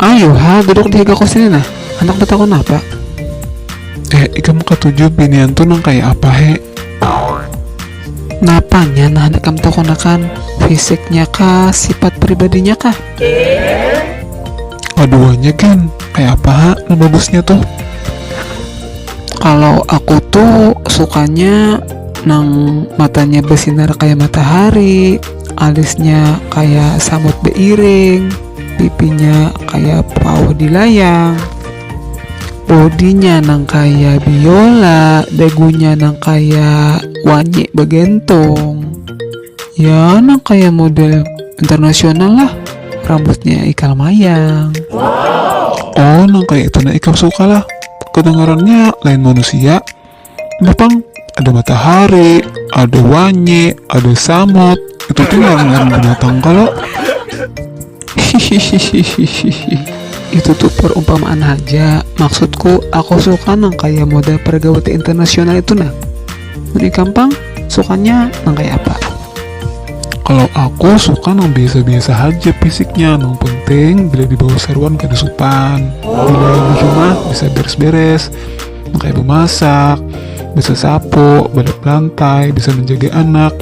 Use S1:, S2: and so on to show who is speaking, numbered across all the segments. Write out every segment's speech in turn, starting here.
S1: Ayo ha, duduk di higa kursi nah. Anak betakun apa? Eh, ikam katuju binian tu nang kaya apa he? Napanya nah handak ikam takunakan? Fisiknya kah, sipat pribadinya kah? Kaduanya gin, kaya apa ha nang bagusnya tuh? Kalau aku tuh sukanya nang matanya besinar kaya matahari. Alisnya kaya samut beiring, pipinya kaya pauh di layang, bodinya nang kaya biola, dagunya nang kaya wanyik bagentung, ya nang kaya model internasional lah, rambutnya ikal mayang. Oh nang kaya itu nah ikam suka lah, kedengarannya lain manusia. Nah pang ada matahari, ada wanye, ada samut, itu tuh ngaran binatang kalo. itu tuh perumpamaan aja. Maksudku, aku suka nang kayak moda pergauti internasional itu nah. Mending gampang, sukanya nang kayak apa? Kalau aku suka nang biasa-biasa aja fisiknya, nang penting bila dibawa seruan kada supan. Bila di rumah bisa beres-beres, kayak memasak bisa sapu balik lantai bisa menjaga anak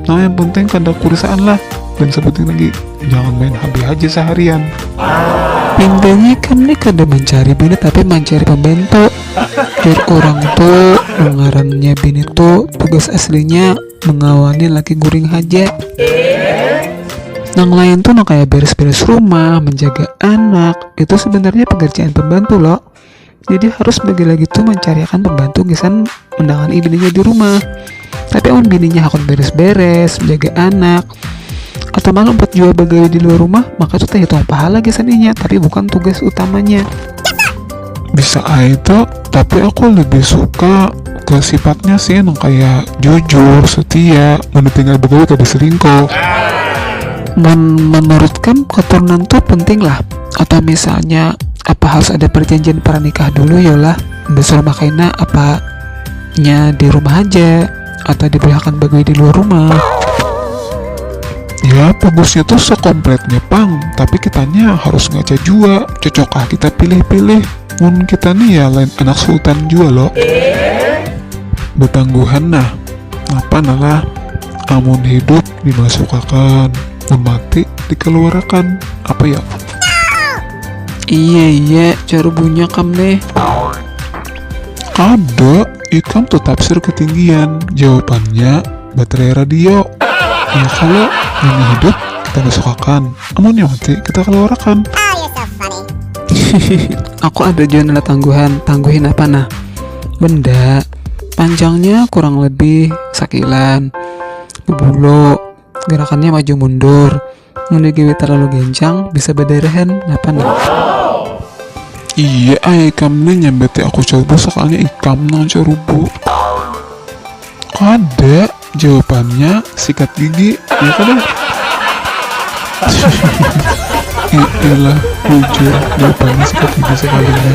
S1: nah yang penting kada kurisaan lah dan sebutin lagi jangan main HP aja seharian intinya kami kada mencari bini tapi mencari pembantu biar orang tuh mengarannya bini tuh tugas aslinya mengawani laki guring aja yang lain tuh no kayak beres-beres rumah, menjaga anak, itu sebenarnya pekerjaan pembantu loh. jadi harus bagi lagi tuh mencariakan pembantu gisan menangani bininya di rumah tapi amun bininya hakun beres-beres menjaga anak atau malah empat jual bagawi di luar rumah maka tuh terhitung pahala gisan inya tapi bukan tugas utamanya bisa aja tapi aku lebih suka ke sifatnya sih yang kayak jujur setia mau ditinggal bagawi gak diselingkuh menurutkan keturunan tuh penting lah atau misalnya apa harus ada perjanjian pernikah dulu ya lah besar rumah kaina apa nya di rumah aja atau dibolehkan bagui di luar rumah ya bagusnya tuh sekompletnya pang tapi kitanya harus ngaca jua cocokkah kita pilih-pilih mun kita nih ya lain anak sultan jua lo betangguhan nah napa nalah amun hidup dimasukakan mun mati dikeluarakan apa ya iye iye jar bunya kam neh kada ikam tu tafsir ketinggian jawabannya baterai radio iya kalo munnya hidup kita masukakan amunnya mati kita keluarakan hihihi aku ada jua nala tangguhan tangguhin apa nah benda panjangnya kurang lebih sakilan. bebulu gerakannya maju mundur mun digawe terlalu gencang bisa bederehen napa nah iya ai ikam nih nyambati aku coba sekalinya ikam nang cerubu kada jawabannya sikat gigi ya kada iyalah bujur jawabannya sikat gigi sekalinya